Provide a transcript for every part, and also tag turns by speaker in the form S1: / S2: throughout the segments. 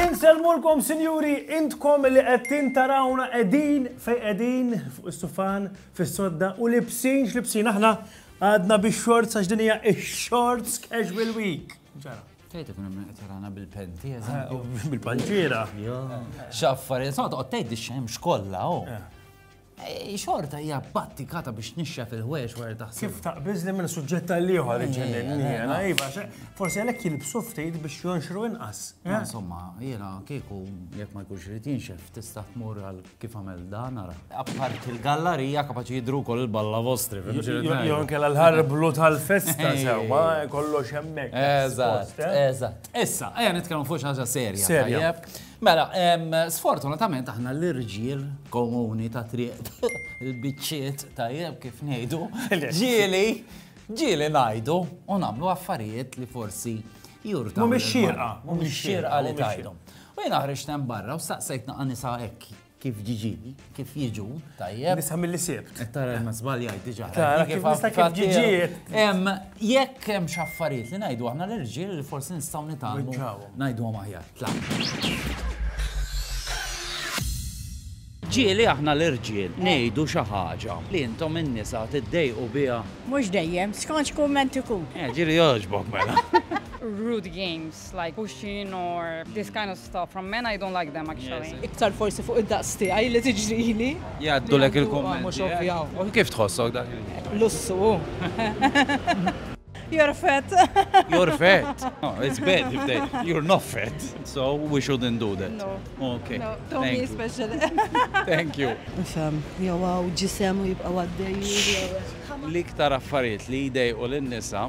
S1: Inselmulkom sinjuri, intkom li qed tintarawna qegħdin fej qegħdin fuq is-sufan fis-sodda u libsin x'libsin aħna għadna bix-shorts għax din hija x-shorts casual week. Ġara. Tgħid ikun hemm
S2: qed jarana bil-pen tiegħek. Bil-panċiera. Xaffar, sa toqgħod tgħid ix-xemx kollha oh. eh. Eh, Xorta hija battikata biex nixxa fil-ħwex wara taħseb. Kif taqbiż li minn
S1: suġġett tal-ieħor iġġenni jiena, iva, forsi għalhekk jilbsu ftit biex jonxru inqas. Eh? Insomma, jiena
S2: kieku jekk ma jkunx irid jinxef tista' tmur għal Kif għamel dan ara? Apparti l-gallarija kapaċi jidru wkoll il-balla vostri. Jo kella
S1: l-ħarblu tal-festa sewwa kollox hemmhekk. Eżatt, eh? eżatt.
S2: Issa, ejja nitkellmu fuq xi ħaġa serja. Serja. Mela, sfortunatament aħna l-irġiel komuni ta' triq il-biċċiet tajjeb kif ngħidu, ġieli, ġieli ngħidu u nagħmlu affarijiet li forsi jurta. Mhumiex xierqa.
S1: Mhumiex xierqa
S2: li tgħidhom. U jiena ħriġt hemm barra u staqsejt naqa' nisa hekk kif ġiġili, kif jiġu, tajjeb. Nisa mill-li sibt. Qed
S1: tara ma żbaljajt
S2: diġà. Tara kif nista' kif
S1: ġiġijiet. Hemm jekk
S2: hemm xi affarijiet li ngħidu aħna l-irġiel li forsi nistgħu nitgħallmu. Ngħiduhom aħjar. Ġieli aħna l-irġiel ngħidu xi ħaġa li intom in-nisa tiddejqu biha. Mhux dejjem,
S3: skont x'kumment ikun. Ġieli jogħġbok
S2: mela. Rude
S4: games. It's like pushing or this kind of stuff from men I don't like them actually. Iktar forsi fuq id-daqs
S3: tiegħi li tiġrili. Jgħaddulek
S2: il-kummenti. U kif tħossok dak? Lussu.
S3: You're fat. You're fat.
S2: Oh, it's bad if they, you're not fat. So we shouldn't do that. No. Ok. No,
S3: Tommy
S2: is special.
S3: Thank you.
S2: Nifhem, jew
S3: għaw ġisem u jibqa' għaddej. L-iktar
S2: affarijiet li jdejqu lin-nisa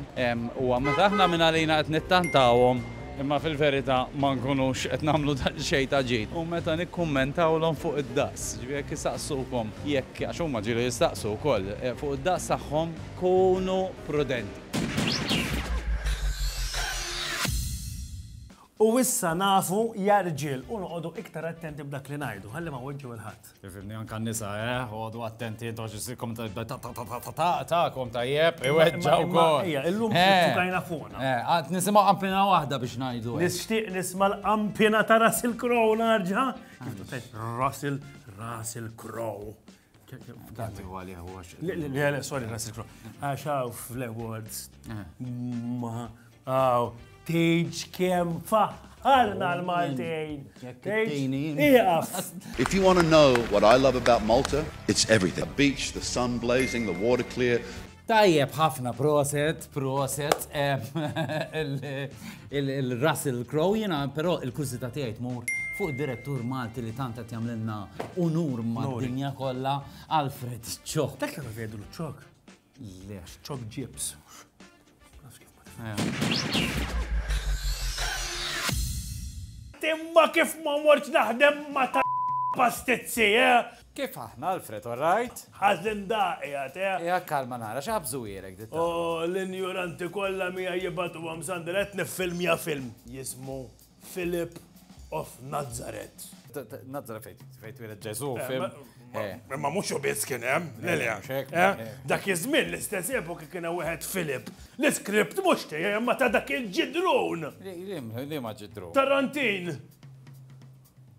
S2: huwa meta aħna minn għalina qed nittantawhom imma fil-verità ma nkunux qed nagħmlu daqsxejn ta' ġid u meta nikkummentawlhom fuq id-daqs. Ġifieri jekk isaqsukom jekk, għax huma ġieli jistaqsu wkoll, fuq id-daqs tagħhom, kunu prudenti.
S1: U issa nafu ja rġiel u noqogħdu iktar attenti b'dak li ngħidu, ħalli ma weġġgħu 'l ħadd. Ifhimni anke n-nisa,
S2: eh, għodu attenti intom x'issirkom tagħkom tajjeb, iweġġa' wkoll. Ejja, illum fukajna
S1: fuqna. Eh, qatt nisimgħu qampina
S2: waħda biex ngħidu. Nixtieq nisma'
S1: l-qampina ta' Russell Crowe narġa'. Kif tgħid Russell, Russell Crowe. Dati u għalih u għax. Le, le, le, sorry, Nasir Kro. Għax għaw fl-awards. Ma għaw, teġ kem faħħarna l-Maltejn.
S5: If you want to know what I love about Malta, it's everything. The beach, the sun blazing, the water clear. Tajjeb ħafna
S2: proset, proset, il-Russell Crowe jina, pero il-kużita tiegħi tmur fuq direttur Malti li tant qed jagħmlilna unur mad-dinja kollha Alfred Ċok. Dak li vedu l-ċok.
S1: Le.
S2: Ċok ġibs.
S1: Timma kif ma morċ naħdem ma ta' pastizzi, eh? Kif
S2: aħna, Alfred, all right? Ħazin daqi
S1: għat, eh? Ja, kalma nara,
S2: xaħbżu jirek, ditta. Oh, l-injuranti
S1: kolla mija jibatu għam sandra, etni film ja film, jismu. Philip of Nazareth. Nazareth
S2: fejn fejn twieled Ġesu, eh, fim. Eh. Imma mhux
S1: u biss kien hemm, eh, lilja. Dak iż-żmien l-istess epoki kien hemm wieħed Philip. L-iskript mhux tiegħi imma ta' dak il-ġidrun. Li ma
S2: ġidrun. Tarantin.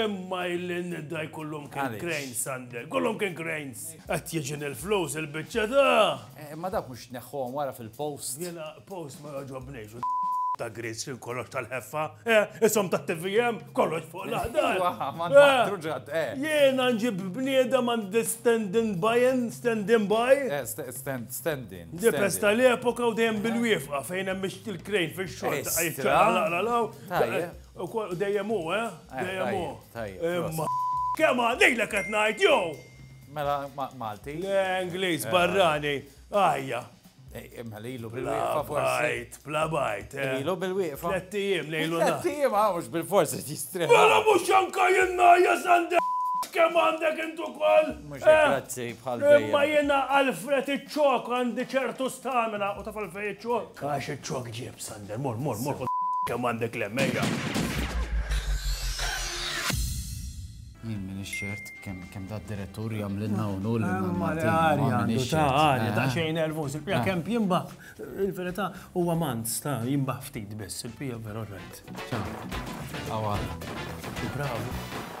S1: Imma illi n-nidda jkollhom kien cranes, Sander, jkollhom kien cranes! Qed jiġi nil-flus il-biċċa ta'. Imma dawk mhux tneħħuhom
S2: wara fil-post? Jiena post ma
S1: jogħġobnix u ta' grids x'in kollox tal-ħeffa, eh, ishom tat-TVM, kollox fuq l-aħdar. Iva, ma nbaħtru ġadd, eh. Jiena nġib bniedem għandi stand-in buy'n, stand-in buy. Eh, stand,
S2: stand-in. Dipes tal-epoka
S1: u dejjem bil-wiefqa fejn hemm il-crane fix-xogħol. Ejstra. Tajjeb. Ukoll u dejjem hu, eh? Dejjem hu. Imma kemm għalilek qed ngħid jew! Mela Malti. Le Ingliż barrani. Ajja. Imma
S2: li ilu bil-wieqfa forsi. Bla bajt,
S1: eh. Ilu bil-wieqfa.
S2: Tlettijiem lejlu.
S1: Tlettijiem għawx
S2: bil-forsi jistreħ. Mela mhux anka
S1: jenna jasande kemm għandek intu kol. Mux eh, grazzi
S2: bħal Imma jena Alfred
S1: iċ-ċok għandi ċertu stamina u taf għalfej iċ-ċok. Għax iċ-ċok ġib Sander, mor, mor, mor, ħod kemm għandek lem, ejja.
S2: Jien minn ix-xert kemm da direttur jagħmlilna u nul il-Maltin. Ta' għarja,
S1: ta' xejn nervus, il-pija kemm jimba, il-verità huwa manz ta' jimba ftit biss, il-pija veru rajt. Għawara. Bravo.